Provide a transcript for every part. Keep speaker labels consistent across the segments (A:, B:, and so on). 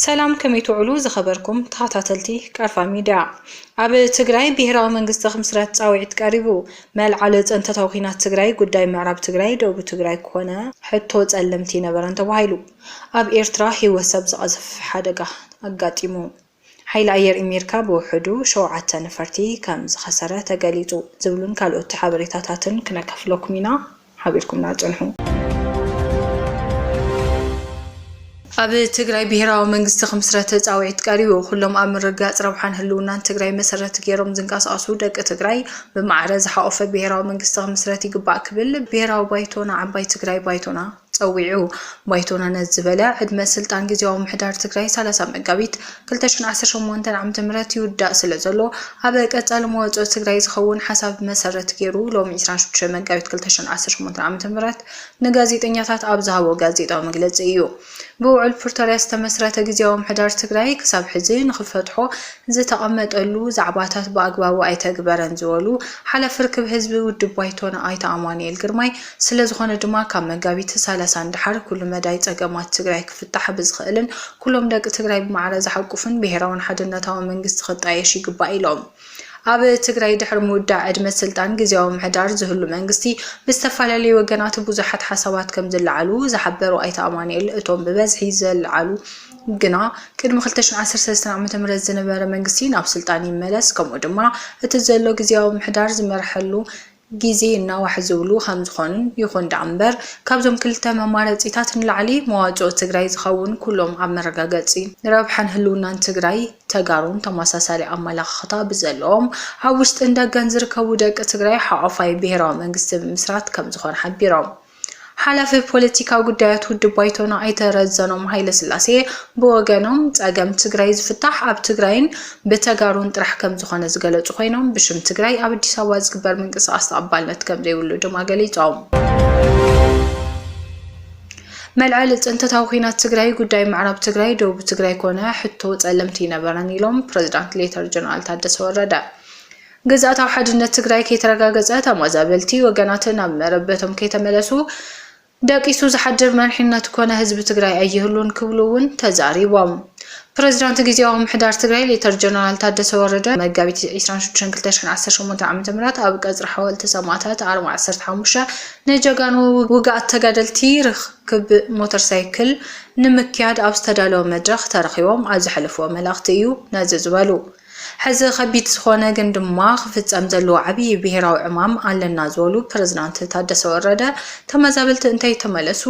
A: ሰላም ከመይ ትውዕሉ ዝኸበርኩም ተኸታተልቲ ቀርፋ ሚድያ። ኣብ ትግራይ ብሄራዊ መንግስቲ ክምስረት ፃውዒት ቀሪቡ። መልዓሊ ፀንተታዊ ኲናት ትግራይ ጉዳይ ምዕራብ ትግራይ ደቡብ ትግራይ ክኾነ ሕቶ ፀለምቲ ነበረን ተባሂሉ። ኣብ ኤርትራ ህይወት ሰብ ዝቐዝፍ ሓደጋ ኣጋጢሙ። ሓይሊ ኣየር ኢሜሪካ ብውሕዱ ሸውዓተ ነፈርቲ ከም ዝኸሰረ ተገሊጹ። ዝብሉን ካልኦት ሓበሬታታትን ክነካፍለኩም ኢና። ሓቢርኩምና ጽንሑ። ኣብ ትግራይ ብሄራዊ መንግስቲ ክምስረት ፃውዒት ቀሪቡ። ኩሎም ኣብ ምርግጋፅ ረብሓን ህልውናን ትግራይ መሰረት ገይሮም ዝንቀሳቐሱ ደቂ ትግራይ ብማዕረ ዝሓቖፈ ብሄራዊ መንግስቲ ክምስረት ይግባእ ክብል ብሄራዊ ባይቶና ዓባይ ትግራይ ባይቶና ፀዊዑ። ባይቶና ነዚ ዝበለ፣ ዕድመ ስልጣን ጊዜያዊ ምምሕዳር ትግራይ ሰላሳ መጋቢት ክልተ ሽሕ ዓሰርተ ሸሞንተ ዓመተ ምህረት ይውዳእ ስለዘሎ ኣብ ቀፃሊ መዋፅኦ ትግራይ ዝኸውን ሓሳብ መሰረት ገይሩ ሎሚ ዕስራን ሽዱሽተን መጋቢት ክልተ ሽሕ ዓሰርተ ሸሞንተ ዓመተ ምህረት ንጋዜጠኛታት ኣብ ዝሃቦ ጋዜጣዊ መግለፂ እዩ። ብውዕል ፕርቶርያ ዝተመስረተ ጊዜያዊ ምምሕዳር ትግራይ ክሳብ ሕዚ ንክፈትሖ ዝተቐመጠሉ ዛዕባታት ብኣግባቡ ኣይተግበረን ዝበሉ ሓላፊ ርክብ ህዝቢ ውድብ ባይቶና ኣይተ ኣማኑኤል ግርማይ ስለዝኾነ ድማ ካብ መጋቢት ሰላሳ ንደሓር ኩሉ መዳይ ፀገማት ትግራይ ክፍታሕ ብዝኽእልን ኩሎም ደቂ ትግራይ ብማዕረ ዝሓቁፍን ብሄራውን ሓድነታዊ መንግስቲ ክጣየሽ ይግባእ ኢሎም። ኣብ ትግራይ ድሕሪ ምውዳእ ዕድመ ስልጣን ግዝያዊ ምሕዳር ዝህሉ መንግስቲ ብዝተፈላለዩ ወገናት ብዙሓት ሓሳባት ከምዝለዓሉ ዝሓበሩ ኣይተ ኣማኑኤል እቶም ብበዝሒ ዘለዓሉ ግና ቅድሚ ክልተ ሽሕን ዓሰርተ ሰለስተን ዓመተ ምህረት ዝነበረ መንግስቲ ናብ ስልጣን ይመለስ ከምኡ ድማ እቲ ዘሎ ግዝያዊ ምሕዳር ዝመርሐሉ ግዜ ናዋሕ ዝብሉ ከምዝኾኑን ይኹን ደኣ እምበር ካብዞም ክልተ መማረፂታት ንላዕሊ መዋፅኦ ትግራይ ዝኸውን ኩሎም ኣብ መረጋገፂ ረብሓን ህልውናን ትግራይ ተጋሩን ተመሳሳሊ ኣመለኻኽታ ብዘለዎም ኣብ ውሽጥን ደገን ዝርከቡ ደቂ ትግራይ ሓቆፋይ ብሄራዊ መንግስቲ ምምስራት ከምዝኾነ ሓቢሮም። ሓላፊ ፖለቲካዊ ጉዳያት ውድብ ባይቶና ኣይተ ረዘኖም ሃይለስላሴ ብወገኖም፣ ፀገም ትግራይ ዝፍታሕ ኣብ ትግራይን ብተጋሩን ጥራሕ ከምዝኾነ ዝገለፁ ኮይኖም፣ ብሽም ትግራይ ኣብ ኣዲስ ኣበባ ዝግበር ምንቅስቓስ ተቐባልነት ከምዘይብሉ ድማ ገሊፆም። መልዐሊ ፅንተታዊ ኲናት ትግራይ ጉዳይ ምዕራብ ትግራይ፣ ደቡብ ትግራይ ኮነ ሕቶ ፀለምቲ ይነበረን ኢሎም ፕሬዚዳንት ሌተር ጀነራል ታደሰ ወረደ። ግዝኣታዊ ሓድነት ትግራይ ከይተረጋገፀ ተማዛበልቲ ወገናት ናብ መረበቶም ከይተመለሱ ደቂሱ ዝሓድር መሪሕነት ኮነ ህዝቢ ትግራይ ኣይህሉን ክብሉ እውን ተዛሪቦም። ፕሬዚዳንት ግዜያዊ ምሕዳር ትግራይ ሌተር ጀነራል ታደሰ ወረደ መጋቢት 26/2018 ዓ.ም ኣብ ቀፅሪ ሓወልቲ ሰማእታት ኣርማ 15 ንጀጋኑ ውግኣት ተጋደልቲ ርክብ ሞተር ሳይክል ንምክያድ ኣብ ዝተዳለወ መድረኽ ተረኺቦም ኣብ ዘሕለፍዎ መልእኽቲ እዩ ነዚ ዝበሉ። ሕዚ ከቢድ ዝኾነ ግን ድማ ክፍፀም ዘለዎ ዓብዪ ብሄራዊ ዕማም ኣለና ዝበሉ ፕረዚዳንት ታደሰ ወረደ ተመዛበልቲ እንተይተመለሱ፣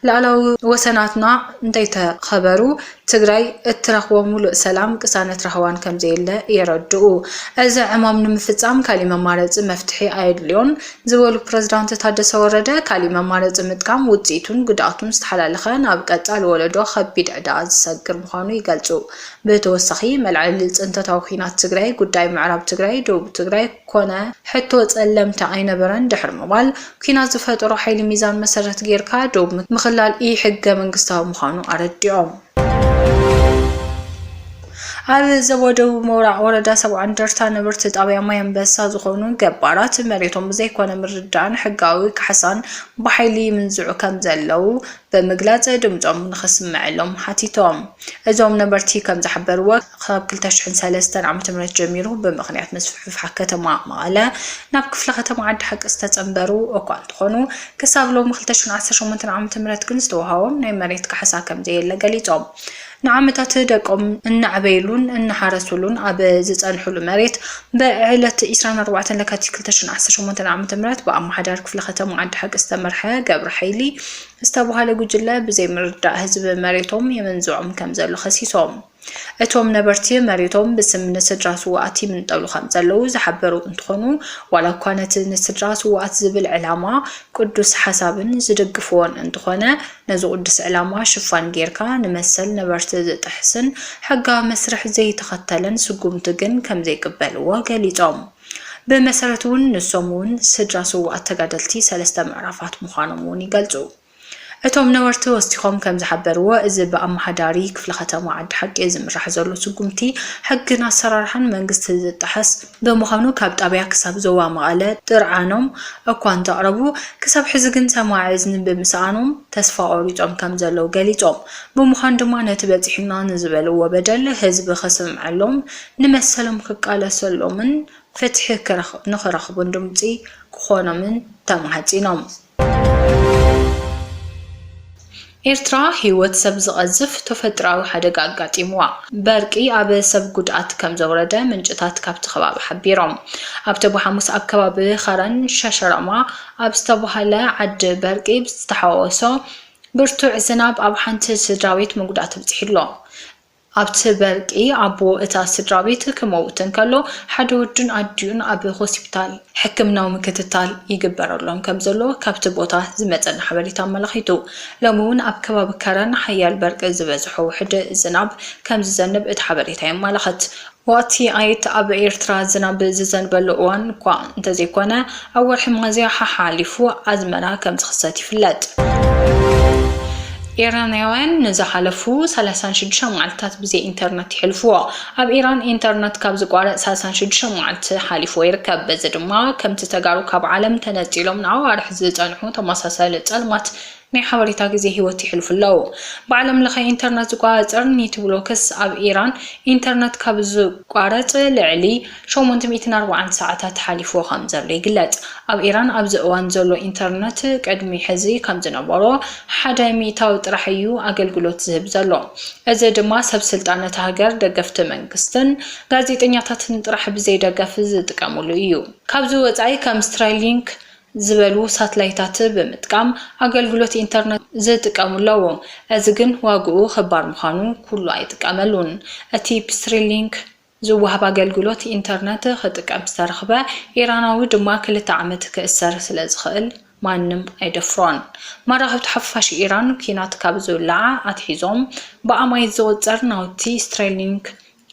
A: ላእላዊ ወሰናትና እንተይተኸበሩ ትግራይ እትረኽቦ ሙሉእ ሰላም፣ ቅሳነት ራህዋን ከምዘየለ የረድኡ። እዚ ዕማም ንምፍፃም ካሊእ መማረፂ መፍትሒ ኣየድልዮን ዝበሉ ፕረዚዳንት ታደሰ ወረደ ካሊእ መማረፂ ምጥቃም ውፅኢቱን ጉድኣቱን ዝተሓላለኸ ናብ ቀፃሊ ወለዶ ከቢድ ዕዳ ዝሰግር ምዃኑ ይገልፁ። ብተወሳኺ መልዐሊ ፅንተታዊ ኹናት ትግራይ ጉዳይ ምዕራብ ትግራይ፣ ደቡብ ትግራይ ኮነ ሕቶ ፀለምቲ ኣይነበረን ድሕሪ ምባል ኲናት ዝፈጠሮ ሓይሊ ሚዛን መሰረት ገይርካ ዶብ ምኽላል ኢ ሕገ መንግስታዊ ምዃኑ ኣረዲኦም። ኣብ ዞባ ደቡብ ሞራዕ ወረዳ ሰብዓ እንደርታ ነበርቲ ጣብያ ማይ ኣንበሳ ዝኾኑ ገባራት መሬቶም ብዘይኮነ ምርዳእን ሕጋዊ ካሕሳን ብሓይሊ ይምንዝዑ ከምዘለው ብምግላፅ ድምፆም ንኽስመዐሎም ሓቲቶም። እዞም ነበርቲ ከም ዝሓበርዎ ካብ ክልተ ሽሕን ሰለስተን ዓመተ ምህረት ጀሚሩ ብምኽንያት ምስፍሕፋሕ ከተማ መቐለ ናብ ክፍለ ከተማ ዓዲ ሓቂ ዝተፀምበሩ እኳ እንተኾኑ ክሳብ ሎሚ ክልተ ሽሕን ዓሰርተ ሸሞንተን ዓመተ ምህረት ግን ዝተውሃቦም ናይ መሬት ካሕሳ ከም ዘየለ ገሊፆም። ንዓመታት ደቆም እናዕበይሉን እናሓረሱሉን ኣብ ዝፀንሑሉ መሬት ብዕለት ዕስራን ኣርባዕተን ለካቲት ክልተ ሽሕን ዓሰርተ ሸሞንተን ዓመተ ምህረት ብኣማሓዳሪ ክፍለ ከተማ ዓዲ ሓቂ ዝተመርሐ ገብረ ሓይሊ ዝተብሃለ ጉጅለ ብዘይምርዳእ ህዝቢ መሬቶም የመንዝዖም ከምዘሎ ከሲሶም እቶም ነበርቲ መሬቶም ብስም ንስድራ ስውኣት ይምንጠሉ ከም ዘለዉ ዝሓበሩ እንትኾኑ ዋላ እኳ ነቲ ንስድራ ስውኣት ዝብል ዕላማ ቅዱስ ሓሳብን ዝድግፍዎን እንተኾነ ነዚ ቁዱስ ዕላማ ሽፋን ጌርካ ንመሰል ነበርቲ ዝጥሕስን ሕጋዊ መስርሕ ዘይተኸተለን ስጉምቲ ግን ከምዘይቅበልዎ ገሊጾም። ብመሰረቱ'ውን ንሶም'ውን ስድራ ስውኣት ተጋደልቲ ሰለስተ ምዕራፋት ምዃኖም'ውን ይገልጹ። እቶም ነበርቲ ወሲኾም ከምዝሓበርዎ እዚ ብኣመሓዳሪ ክፍለ ከተማ ዓዲ ሓቂ ዝምራሕ ዘሎ ስጉምቲ ሕግን ኣሰራርሓን መንግስቲ ዝጥሕስ ብምዃኑ ካብ ጣብያ ክሳብ ዞባ መቐለ ጥርዓኖም እኳ እንተቕረቡ ክሳብ ሕዚ ግን ሰማዒ እዝኒ ብምስኣኖም ተስፋ ቆሪፆም ከምዘለዉ ገሊፆም። ብምዃኑ ድማ ነቲ በፂሑና ንዝበልዎ በደል ህዝቢ ከስምዐሎም፣ ንመሰሎም ክቃለሰሎምን ፍትሒ ንክረኽቡን ድምፂ ክኾኖምን ተማሕፂኖም። ኤርትራ ህይወት ሰብ ዝቐዝፍ ተፈጥሮኣዊ ሓደጋ ኣጋጢምዋ በርቂ ኣብ ሰብ ጉድኣት ከምዘውረደ ምንጭታት ካብቲ ከባቢ ሓቢሮም። ኣብ ተጉ ሓሙስ ኣብ ከባቢ ኸረን ሸሸሮማ ኣብ ዝተባህለ ዓዲ በርቂ ብዝተሓዋወሶ ብርቱዕ ዝናብ ኣብ ሓንቲ ስድራቤት መጉዳእቲ ኣብጺሑ'ሎ። ኣብቲ በርቂ ኣቦ እታ ስድራቤት ክመውት እንከሎ፣ ሓደ ወዱን ኣዲኡን ኣብ ሆሲፒታል ሕክምናዊ ምክትታል ይግበረሎም ከምዘሎ ካብቲ ቦታ ዝመጸና ሓበሬታ ኣመላኺቱ። ሎሚ'ውን ኣብ ከባቢ ከረን ሓያል በርቂ ዝበዝሖ ውሕድ ዝናብ ከምዝዘንብ እቲ ሓበሬታ የማላኽት። ወቕቲ ኣይት ኣብ ኤርትራ ዝናብ ዝዘንበሉ እዋን እኳ እንተዘይኮነ፣ ኣብ ወርሒ ሚያዝያ ሓሓሊፉ ኣዝመራ ከምዝኽሰት ይፍለጥ። ኢራናውያን ንዝሓለፉ ሰላሳን ሽዱሽተን መዓልትታት ብዘይ ኢንተርነት የሕልፉዎ። ኣብ ኢራን ኢንተርነት ካብ ዝቋረጽ ሳልሳን ሽዱሽተን መዓልቲ ሓሊፉዎ ይርከብ። በዚ ድማ ከምቲ ተጋሩ ካብ ዓለም ተነጺሎም ንኣዋርሕ ዝጸንሑ ተመሳሳሊ ጸልማት ናይ ሓበሬታ ግዜ ህይወት የሕልፉ ኣለዉ። ብዓለምለኸ ኢንተርነት ዝቆጻጸር ኒትብሎክስ ኣብ ኢራን ኢንተርነት ካብ ዝቋረጽ ልዕሊ ሸሞንተ ሚእትን ኣርባዓን ሰዓታት ሓሊፉዎ ከምዘሎ ይግለጽ። ኣብ ኢራን ኣብዚ እዋን ዘሎ ኢንተርነት ቅድሚ ሕዚ ከምዝነበሮ ሓደ ሚእታዊ ጥራሕ እዩ ኣገልግሎት ዝህብ ዘሎ። እዚ ድማ ሰብ ስልጣን እታ ሃገር ደገፍቲ መንግስትን ጋዜጠኛታትን ጥራሕ ብዘይደገፍ ዝጥቀምሉ እዩ። ካብዚ ወጻኢ ከም ስትራይሊንክ፣ ዝበሉ ሳትላይታት ብምጥቃም ኣገልግሎት ኢንተርነት ዝጥቀሙ ኣለዉ። እዚ ግን ዋግኡ ክባር ምዃኑ ኩሉ ኣይጥቀመሉን። እቲ ብስሪ ሊንክ ዝወሃብ ኣገልግሎት ኢንተርነት ክጥቀም ዝተረኽበ ኢራናዊ ድማ ክልተ ዓመት ክእሰር ስለ ዝኽእል ማንም ኣይደፍሮን። መራኽብቲ ሓፋሽ ኢራን ኲናት ካብ ዝውላዓ ኣትሒዞም ብኣማኢት ዝቑጸር ናውቲ ስትሪሊንክ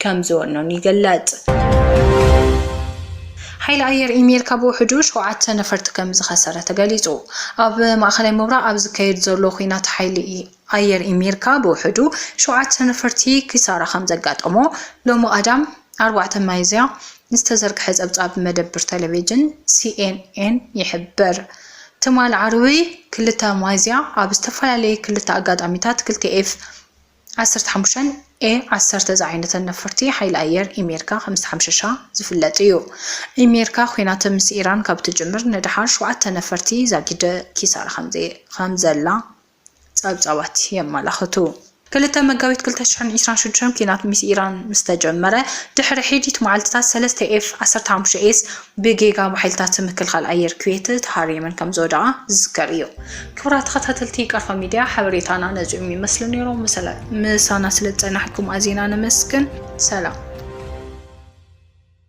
A: ከም ዝወኖን ይግለጽ። ሓይሊ ኣየር ኢሜርካ ብውሕዱ ሸውዓተ ነፈርቲ ከም ዝኸሰረ ተገሊጹ። ኣብ ማእኸላይ ምብራቕ ኣብ ዝካየድ ዘሎ ኹናት ሓይሊ ኣየር ኢሜርካ ብውሕዱ ሸውዓተ ነፈርቲ ኪሳራ ከም ዘጋጠሞ ሎሚ ቀዳም ኣርባዕተ ሚያዝያ ዝተዘርግሐ ጸብጻብ መደብር ተለቬጅን ሲኤንኤን ይሕብር። ትማል ዓርቢ ክልተ ሚያዝያ ኣብ ዝተፈላለየ ክልተ ኣጋጣሚታት ክልተ ኤፍ ዓሰርተ ሓሙሽተ ኤ ዓሰርተ ዝዓይነተን ነፈርቲ ሓይሊ ኣየር ኢሜርካ ከምዝተሓምሸሻ ዝፍለጥ እዩ። ኢሜርካ ኲናት ምስ ኢራን ካብ ትጅምር ንደሓር ሸውዓተ ነፈርቲ ዛጊድ ኪሳራ ከምዘላ ጸብጻባት የመላኽቱ። ክልተ መጋቢት ክልተ ሽሕን ዒስራን ሽዱሽተን ኲናት ምስ ኢራን ምስተጀመረ ድሕሪ ሒዲት መዓልትታት ሰለስተ ኤፍ ዓሰርተ ሓሙሽተ ኤስ ብጌጋ ብሓይልታት ምክልኻል ኣየር ኩዌት ተሃሪመን ከምዝወደቓ ዝዝከር እዩ። ክብራት ተኸታተልቲ ቀርፋ ሚድያ ሓበሬታና ነዚኦም ይመስሉ ነይሮም። ምሳና ስለዝፀናሕኩም ኣዚና ነመስግን። ሰላም።